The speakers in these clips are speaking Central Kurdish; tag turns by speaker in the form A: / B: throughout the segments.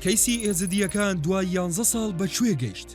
A: کەیسی ئێزدییەکان دوای یانزە ساڵ بە کوێ گەیشت؟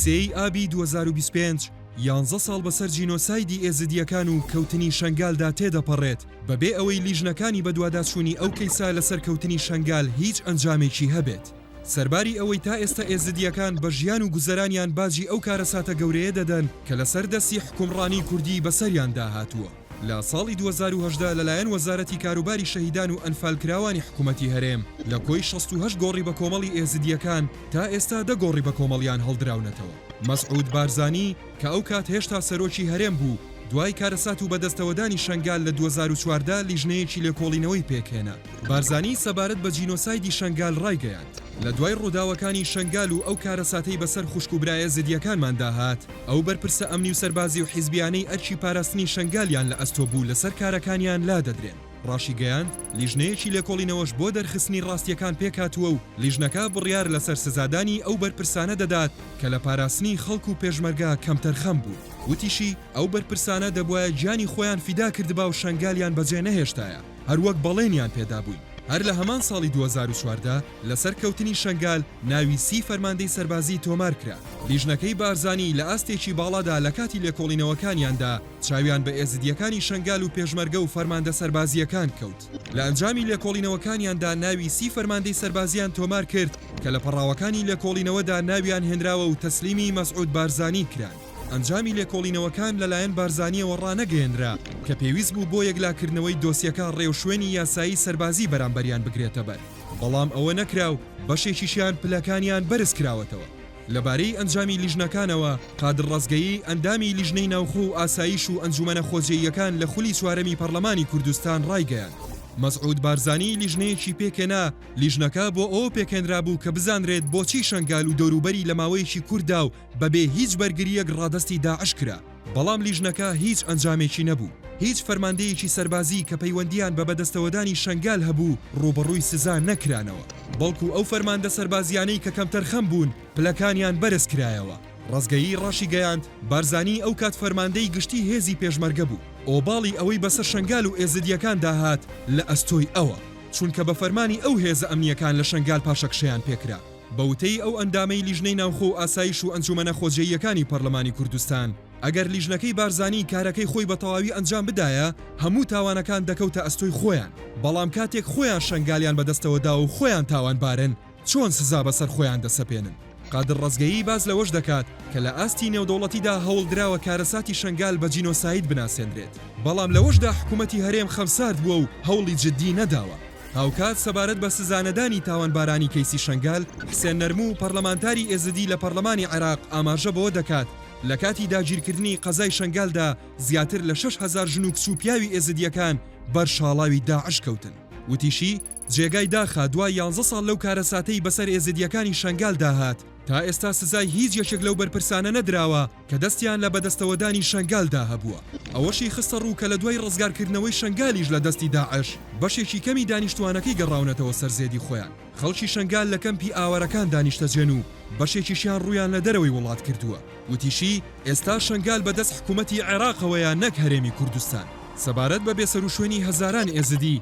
A: سێی ئابی 2025 یانزە ساڵ بەسەر جینۆسایدی ئێزدییەکان و کەوتنی شەنگالدا تێدەپەڕێت، بەبێ ئەوەی لیژنەکانی بەدواداچوونی ئەو کەیسە لەسەر کەوتنی شەنگال هیچ ئەنجامێکی هەبێت. سەرباری ئەوەی تا ئێستە ئێزدییەکان بە ژیان و گوزەرانیان باجی ئەو کارەساتە گەورەیە دەدەن کە لەسەر دەستی حوکمڕانیی کوردی بەسەریاندا هاتووە. لە ساڵی دوو هەزار و هەژدە لەلایەن وەزارەتی کاروباری شەهیدان و ئەنفالکراوانی حکوومەتی هەرێم لە کۆی شەست و هەشت گۆڕی بەکۆمەڵی ئێزیدییەکان تا ئێستا دە گۆڕی بەکۆمەڵیان هەڵدراونەتەوە. مەسعود بارزانی کە ئەو کات هێشتا سەرۆکی هەرێم بوو، دوای کارەسات و بەدەستەوەدانی شەنگال لە دوو هەزار و چواردە لیژنەیەکی لێکۆڵینەوەی پێکهێنا. بارزانی سەبارەت بە جینۆسایدی شەنگال ڕایگەیاند، لە دوای ڕووداوەکانی شەنگال و ئەو کارەساتەی بەسەر خوشک و برا ئێزیدییەکانماندا هات، ئەو بەرپرسە ئەمنی و سەربازی و حیزبیانەی ئەرکی پاراستنی شەنگالیان لە ئەستۆ بوو لەسەر کارەکانیان لادەدرێن. ڕاشیگەیاند، لیژنەیەکی لێکۆڵینەوەش بۆ دەرخستنی ڕاستییەکان پێکهاتووە و لیژنەکە بڕیار لەسەر سزادانی ئەو بەرپرسانە دەدات کە لە پاراستنی خەڵک و پێشمەرگە کەمتەرخەم بوون. وتیشی، ئەو بەرپرسانە دەبوایە گیانی خۆیان فیدا کردبا و شەنگالیان بەجێ نەهێشتایە هەروەک بەڵێنیان پێدابووین. هەر لە هەمان ساڵی دوو هەزار و چواردە، لەسەر کەوتنی شەنگال ناوی سی فەرماندەی سەربازی تۆمار کرا. لیژنەکەی بارزانی لە ئاستێکی باڵادا لە کاتی لێکۆڵینەوەکانیاندا چاویان بە ئێزدییەکانی شەنگال و پێشمەرگە و فەرماندە سەربازییەکان کەوت. لە ئەنجامی لێکۆڵینەوەکانیاندا ناوی سی فەرماندەی سەربازییان تۆمار کرد کە لە پەڕاوەکانی لێکۆڵینەوەدا ناویان هێنراوە و تەسلیمی مەسعود بارزانی کران. ئەنجامی لێکۆڵینەوەکان لەلایەن بارزانییەوە ڕانەگەیەنرا کە پێویست بوو بۆ یەکلاکردنەوەی دۆسیەکە ڕێوشوێنی یاسایی سەربازی بەرامبەریان بگرێتەبەر. بەڵام ئەوە نەکرا و بەشێکیشیان پلەکانیان بەرزکراوەتەوە. لەبارەی ئەنجامی لیژنەکانەوە، قادر ڕەزگەیی، ئەندامی لیژنەی ناوخۆ و ئاسایش و ئەنجومەنە خۆجێییەکان لە خولی چوارەمی پەرلەمانی کوردستان ڕایگەیاند، مەسعود بارزانی لیژنەیەکی پێکهێنا، لیژنەکە بۆ ئەوە پێکهێنرابوو کە بزانرێت بۆچی شەنگال و دەوروبەری لە ماوەیەکی کورتدا و بەبێ هیچ بەرگرییەک ڕادەستی داعش کرا، بەڵام لیژنەکە هیچ ئەنجامێکی نەبوو، هیچ فەرماندەیەکی سەربازی کە پەیوەندییان بە بەدەستەوەدانی شەنگال هەبوو ڕووبەڕووی سزا نەکرانەوە، بەڵکو ئەو فەرماندە سەربازییانەی کە کەمتەرخەم بوون پلەکانیان بەرزکرایەوە. ڕەزگەیی ڕاشیگەیاند، بارزانی ئەو کات فەرماندەی گشتی هێزی پێشمەرگە بوو، ئۆباڵی ئەوەی بەسەر شەنگال و ئێزدییەکاندا هات لە ئەستۆی ئەوە، چونکە بە فەرمانی ئەو هێزە ئەمنییەکان لە شەنگال پاشەکشەیان پێکرا. بە وتەی ئەو ئەندامەی لیژنەی ناوخۆ و ئاسایش و ئەنجومەنە خۆجێییەکانی پەرلەمانی کوردستان، ئەگەر لیژنەکەی بارزانی کارەکەی خۆی بە تەواوی ئەنجام بدایە هەموو تاوانەکان دەکەوتە ئەستۆی خۆیان، بەڵام کاتێک خۆیان شەنگالیان بەدەستەوە داوە و خۆیان تاوانبارن چۆن سزا بەسەر خۆیان دەسەپێنن؟ قادر ڕەزگەیی باس لەوەش دەکات کە لە ئاستی نێودەوڵەتیدا هەوڵدراوە کارەساتی شەنگال بە جینۆساید بناسێنرێت، بەڵام لەوەشدا حکومەتی هەرێم خەمسارد بووە و هەوڵی جددی نەداوە. هاوکات سەبارەت بە سزانەدانی تاوانبارانی کەیسی شەنگال، حسێن نەرموو، پەرلەمانتاری ئێزدی لە پەرلەمانی عێراق ئاماژە بەوە دەکات، لە کاتی داگیرکردنی قەزای شەنگالدا زیاتر لە شەش هەزار ژن و کچ و پیاوی ئێزدییەکان بەر شاڵاوی داعش کەوتن. وتیشی، جێگای داخە دوای یانزە ساڵ لەو کارەساتەی بەسەر ئێزدییەکانی شەنگالدا هات، تا ئێستا سزای هیچ یەکێک لەو بەرپرسانە نەدراوە، کە دەستیان لە بەدەستەوەدانی شەنگالدا هەبووە، ئەوەشی خستەڕوو کە لە دوای ڕزگارکردنەوەی شەنگالیش لە دەستی داعش، بەشێکی کەمی دانیشتووانەکەی گەڕاونەتەوە سەر زێدی خۆیان، خەڵکی شەنگال لە کەمپی ئاوارەکاندا نیشتەجێن و بەشێکیشیان ڕوویان لە دەرەوەی وڵات کردووە، وتیشی، ئێستا شەنگال بە دەست حکوومەتی عێراقەوەیە نەک هەرێمی کوردستان. سەبارەت بە بێسەروشوێنی هەزاران ئێزدی،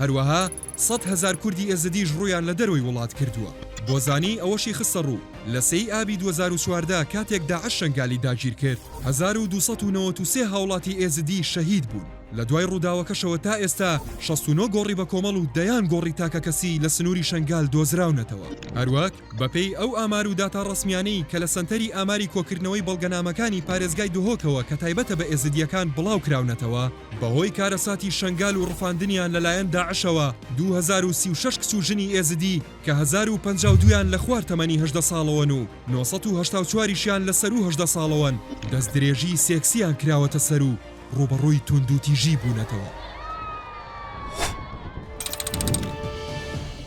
A: هەروەها سەد هەزار کوردی ئێزدیش ڕوویان لە دەرەوەی وڵات کردووە. بۆزانی ئەوەشی خستەڕوو، لە سێ ی ئابی دوو هەزار و چواردە کاتێک داعش شەنگالی داگیرکرد، هەزار و دوو سەد و نەوەد و سێ هاوڵاتی ئێزدی شەهید بوون. لە دوای ڕووداوەکەشەوە تا ئێستا شەست و نۆ گۆڕی بەکۆمەڵ و دەیان گۆڕی تاکەکەسی لە سنووری شەنگال دۆزراونەتەوە. هەروەک. بەپێی ئەو ئامار و داتا ڕەسمیانەی کە لە سەنتەری ئاماری کۆکردنەوەی بەڵگەنامەکانی پارێزگای دهۆکەوە کە تایبەتە بە ئێزدییەکان بڵاوکراونەتەوە، بەهۆی کارەساتی شەنگال و ڕفاندنیان لەلایەن داعشەوە دوو هەزار و سی و شەش کچ و ژنی ئێزدی کە هەزار و پەنجا و دوو یان لە خوار تەمەنی هەژدە ساڵەوەن و نۆ سەد و هەشتا و چوار یشیان لە سەروو هەژدە ساڵەوەن دەستدرێژی سێکسییان کراوەتە سەر و ڕووبەڕووی توندوتیژی بوونەتەوە.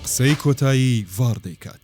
A: قسەی کۆتایی ڤاڕ دەیکات.